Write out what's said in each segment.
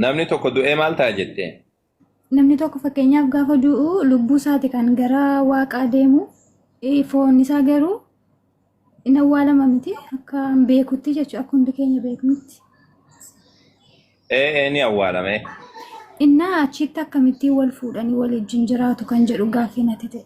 Namni tokko du'ee maal ta'a jettee? Namni tokko fakkeenyaaf gaafa du'u lubbuu isaati kan gara waaqaa deemu eh, foon isaa garuu hin awwaalama miti akka hin beekutti jechuudha akka hundi keenya beeknutti. Ee ee ni awwaalame. Innaa achitti akkamittiin wal fuudhanii wal wajjin jiraatu kan jedhu gaaffii natti ta'e.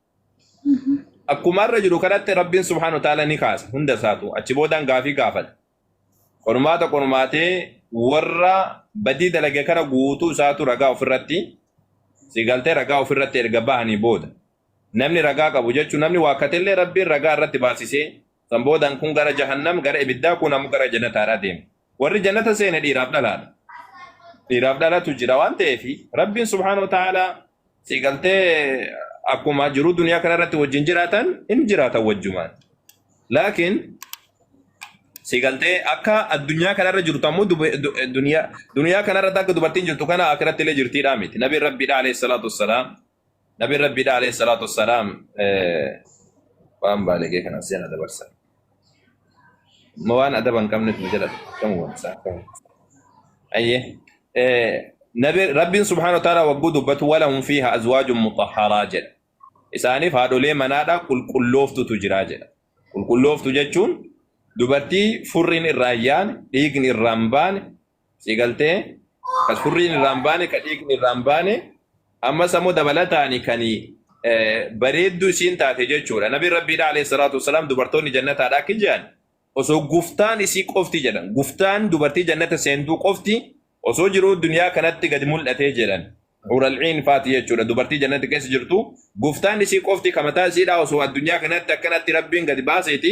Akkuma irra jiru kanatti Rabbiin subhaanahu wa ta'aala ni kaasa hunda isaatu achi boodaan gaafii gaafata. Qormaata qormaatee warra badii dalage kana guutuu isaatu ragaa ofirratti si galtee ragaa ofirratti erga bahanii booda namni ragaa qabu jechuun namni waakkatellee Rabbiin ragaa irratti baasisee San boodaan kun gara jahannam gara ibiddaa kun ammoo gara jannataadhaa deema. Warri jannata seene dhiiraaf dhalaadha. Dhiiraaf dhalatu jira waan ta'eef Rabbiin subhaanahu wa ta'aalaa si galtee akkuma jiruu duniyaa kana irratti wajjin jiraatan hin jiraatan wajjumaan. Laakiin si galtee akka addunyaa kana irra jirtu ammoo dub- du- duniyaa duniyaa kana irratti akka dubartiin jirtu kana akiratti illee jirtiidhaa miti. Nabiin Rabbiidhaa alayhi salaatu wassalaam Nabiin Rabbiidha alayhi salaatu wassalaam waan baalegee kana seena dabarsa. Ma waan adaba hin qabnetu nu jala kan wanta. Ayyee. Nabi Rabbiin subhaanahu wa ta'aala wagguu dubbatu walahum fiihaa azwaajun mutahharaa jedha. Isaaniif haadholee manaadha qulqullooftutu jira jedha. Qulqullooftu jechuun dubartii furriin irraa hin yaane, dhiigni irraa hin baane, Si galtee ka surriin irraan baane ka dhiigni irraan baane ammas ammoo dabalataani kan bareedduu isiin taate jechuudha. Nabi Rabbiidha alayhi salaatu wasalaam dubartoonni jannataadha akka jedhan osoo guftaan isii qofti jedhan guftaan dubartii jannata seentuu qofti osoo jiruu duniyaa kanatti gad mul'atee jedhan. Ural'iin faati jechuudha dubartii jannata keessa jirtu guftaan isii qofti kamataa isiidhaa osoo addunyaa kanatti akkanatti rabbiin gad baaseeti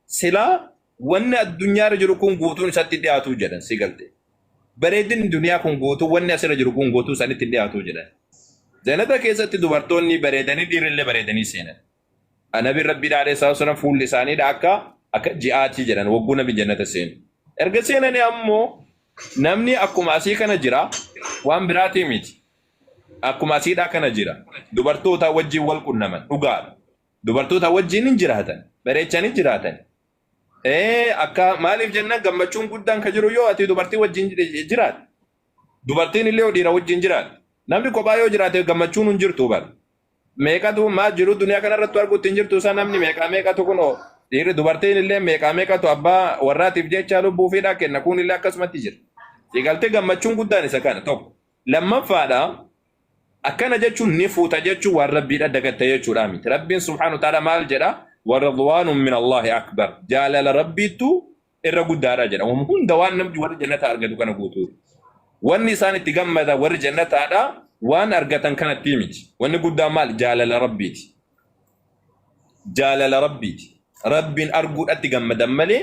Silaa wanni addunyaarra jiru kun guutuun isatti dhiyaatu jedhan si galte. Bareedinni duniyaa kun guutuu wanni asirra jiru kun guutuu sanitti hin dhiyaatu jedhan. Jannata keessatti dubartoonni bareedanii dhiirrillee bareedanii seenan. Nabiin Rabbiidhaa alayhi salaatu wassalaam fuulli isaaniidha akka akka ji'aatii jedhan wagguu nabi jannata seenu. Erga seenanii ammoo namni akkuma asii kana jira waan biraatii miti. Akkuma asiidhaa kana jira. Dubartootaa wajjin wal qunnaman dhugaadha. Dubartoota wajjin hin jiraatan. Bareechanii hin jiraatan. Ee, akka maaliif jennaan gammachuun guddaan kan jiru yoo ati dubartii wajjin ji- jiraatte. Dubartiin illee yoo dhiira wajjin jiraatte. Namni kophaa yoo jiraate gammachuun hin jirtu bara. Meeqatu maa jiru duniyaa kanarratti arguutti hin jirtu isaa namni meeqaa meeqatu kunoo dhiirri dubartiin illee meeqaa meeqatu abbaa warraatiif jecha lubbuu fiidhaa kenna kun illee akkasumatti jira. Eegaltee gammachuun guddaan isa kana tokko. Lammaffaadha Akkana jechuun ni fuuta jechuun waan Rabbiidha dagatta jechuudhaa miti. Rabbiin subhaanahu wa ta'aala maal jedha? Waridwaanun min Allaahi akbar. Jaalala Rabbiittu irra guddaadha jedha. Waan hunda waan namni warri jannataa argatu kana guutuu. Wanni isaan itti gammadan warri jannataadha waan argatan kanattii miti. Wanni guddaan maal? Jaalala Rabbiiti. Jaalala Rabbiiti. Rabbiin arguudhatti gammadan malee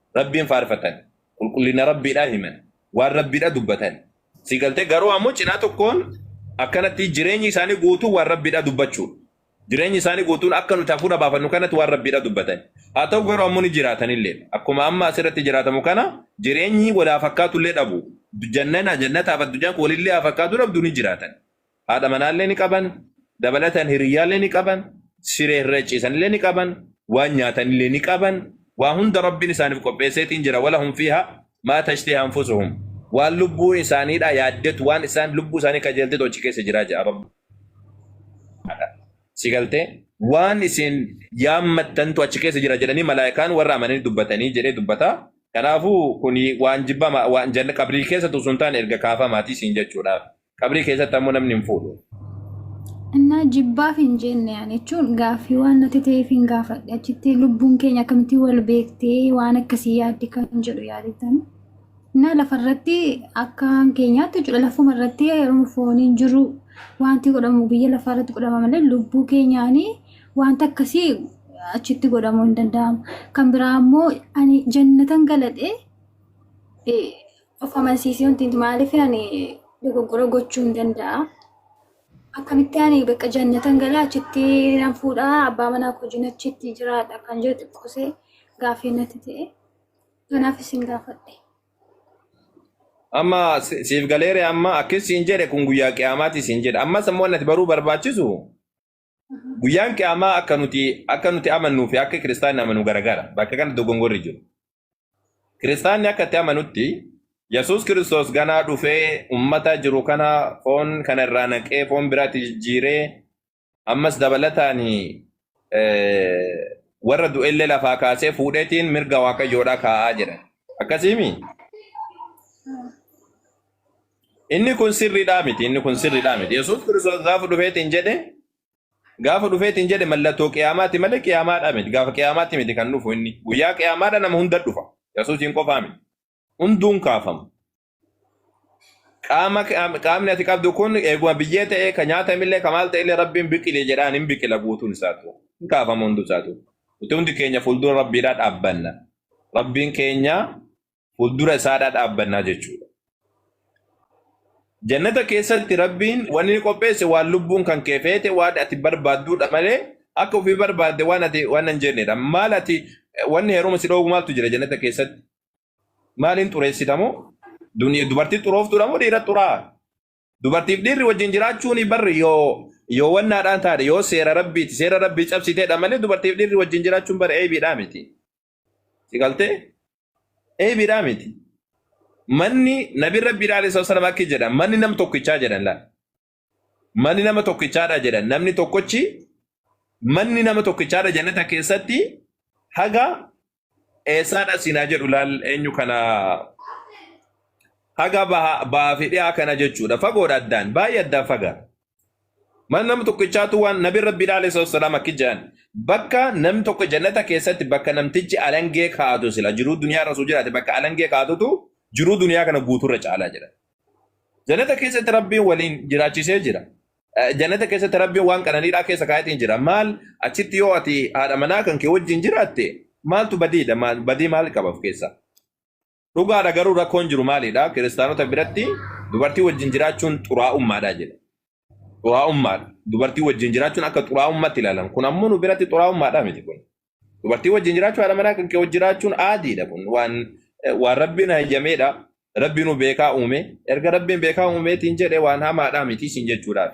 Rabbiin faarfatan. Qulqullina Rabbiidhaa himan. Waan Rabbiidha dubbatan. Si galtee garuu ammoo cinaa tokkoon akkanatti jireenyi isaanii guutuu waan Rabbiidha dubbachuu. Jireenyi isaanii guutuun akka nuti hafuura baafannu kanatti waan Rabbiidha dubbatan. Haa ta'u garuu ammoo ni jiraatanillee. Akkuma amma asirratti jiraatamu kana jireenyi wal haa fakkaatullee dhabu. Jannana jannataaf addunyaan kun walillee haa fakkaatu dhabdu ni jiraatan. Haadha manaallee ni qaban, dabalataan hiriyyaallee ni qaban, siree irra ciisanillee ni qaban, waan nyaatanillee ni qaban, waa hunda Rabbiin isaaniif qopheesseetiin jira. Walahum fiihaa maa tashtahi anfusuhum. Waan lubbuun isaaniidhaa yaaddetu, waan isaan lubbuu isaanii kajeeltetu achi keessa jira jedha Rabbi. Si galtee? Waan isin yaammattantu achi keessa jira jedhanii malaayikaan warra amananii dubbatanii jedhee dubbata. Kanaafuu kuni waan jibbama waan janna qabrii keessatu sun taane erga kaafamaatii siin jechuudhaaf. Qabrii keessatti ammoo namni hin fuudhu. Innaa jibbaaf hin jenne ani jechuun gaaffii waan natti ta'eef hin gaafadhe. Achitti lubbuun keenya akkamitti wal beektee waan akkasii yaaddi kan jedhu yaadatan. Innaa lafarratti akka keenyaatti jechuudha lafuma irratti yeroo fooniin jiru wanti godhamu biyya lafaa irratti godhama malee lubbuu keenyaanii wanta akkasii achitti godhamuu hin danda'amu. Kan biraa immoo ani jannatan galadhee of amansiisee wanti nuti maaliif ani dogoggora gochuu hin danda'a. Akkamitti ani bakka jannatan galaa achitti nan fuudhaa abbaa manaa koo wajjin achitti jiraadha kan jedhu xiqqoosee gaaffii natti ta'e. Kanaaf isin gaafadhe. Amma si- siif galeere amma akkas siin jedhe kun guyyaa qiyaamaati siin jedhe. Ammas immoo wanti ati baruu barbaachisu Guyyaan qiyaamaa akka nuti akka nuti amannuu fi akka kiristaanni amanu garagara. Bakka kana dogongorri jiru. Kiristaanni akka itti amanutti Yesuus Kiristoos ganaa dhufee ummata jiru kana foon kana irraa naqee foon biraatti jijjiiree ammas dabalataan eh, warra du'ellee lafaa kaasee fuudheetiin mirga waaqayyoodhaa kaa'aa jedhan. Akkasiimi? Inni kun sirriidhaa miti, inni kun sirriidhaa miti. Yesuus Kiristoos gaafa dhufeetiin jedhe, gaafa dhufeetiin jedhe mallattoo qiyaamaati malee qiyaamaadhaa miti. Gaafa qiyaamaatti miti kan dhufu inni. Guyyaa qiyaamaadha nama hunda dhufa. Yesuusiin qofaa miti. Hunduun kaafama. Qaama qaamni ati qabdu kun eeguma biyyee ta'ee kan nyaatamillee kan maal ta'ellee rabbiin biqili jedhaan hin biqila guutuun isaatu. Hin kaafama hunduu isaatu. Nuti hundi keenya fuuldura rabbiidhaa dhaabbanna. Rabbiin keenya fuuldura isaadhaa dhaabbannaa jechuudha. Jannata keessatti Rabbiin waan inni qopheesse waan lubbuun kan kee feete waan ati barbaadduudha malee akka ofii barbaadde waan ati waan hin jennedha. Maal ati wanni heeruma si dhoogu maaltu jira jannata keessatti? Maaliin xureessita moo? Duni- Dubartii xurooftuudha moo dhiira xuraa? Dubartiif dhiirri wajjin jiraachuun barri yoo yoo wannaadhaan taate yoo seera rabbiiti seera rabbii cabsiteedha malee dubartiif dhiirri wajjin jiraachuun bara eebiidhaa miti. Si galtee? Eebiidhaa miti. Manni nabi rabbiidhaa alayhi salatu wasalam akki jedha manni nam tokkichaa jedhan laal. Manni nama tokkichaadha jedhan namni tokkochi manni nama tokkichaadha jannata keessatti haga eessaadha siinaa jedhu laal eenyu kana haga baha- bahaa fi dhiyaa kana jechuudha fagoodha addaan baay'ee addaan faga Mana nama tokkichaatu waan nabi rabbi alayhi salatu wassalam akki jedhan bakka nam tokko jannata keessatti bakka namtichi alangee kaa'atu sila jiruu duniyaa irra osoo jiraate bakka alangee kaa'atutu jiruu duniyaa kana guuturra caalaa jedhan. Jannata keessatti rabbiin waliin jiraachisee jira. Eh, Jannata keessatti rabbiin waan qananiidhaa keessa kaa'etiin jira. Maal achitti yoo ati haadha manaa kan kee wajjin jiraatte maaltu badiidha? Maal- Badii maal qaba of keessaa? Dhugaadha garuu rakkoon jiru maalidha? Kiristaanota biratti dubartii wajjin jiraachuun xuraa'ummaadha jedha. Xuraa'ummaadha. Dubartii wajjin jiraachuun akka xuraa'ummaatti ilaalan. Kun ammoo nu biratti xuraa'ummaadha miti kun. Dubartii wajjin jiraachuu haadha manaa kan kee wajjin jiraachuun aadiidha kun. Waan waan rabbiin hayyameedha. Rabbi nu beekaa uume. Erga rabbiin beekaa uumeetiin jedhe waan hamaadha miti isin jechuudhaaf.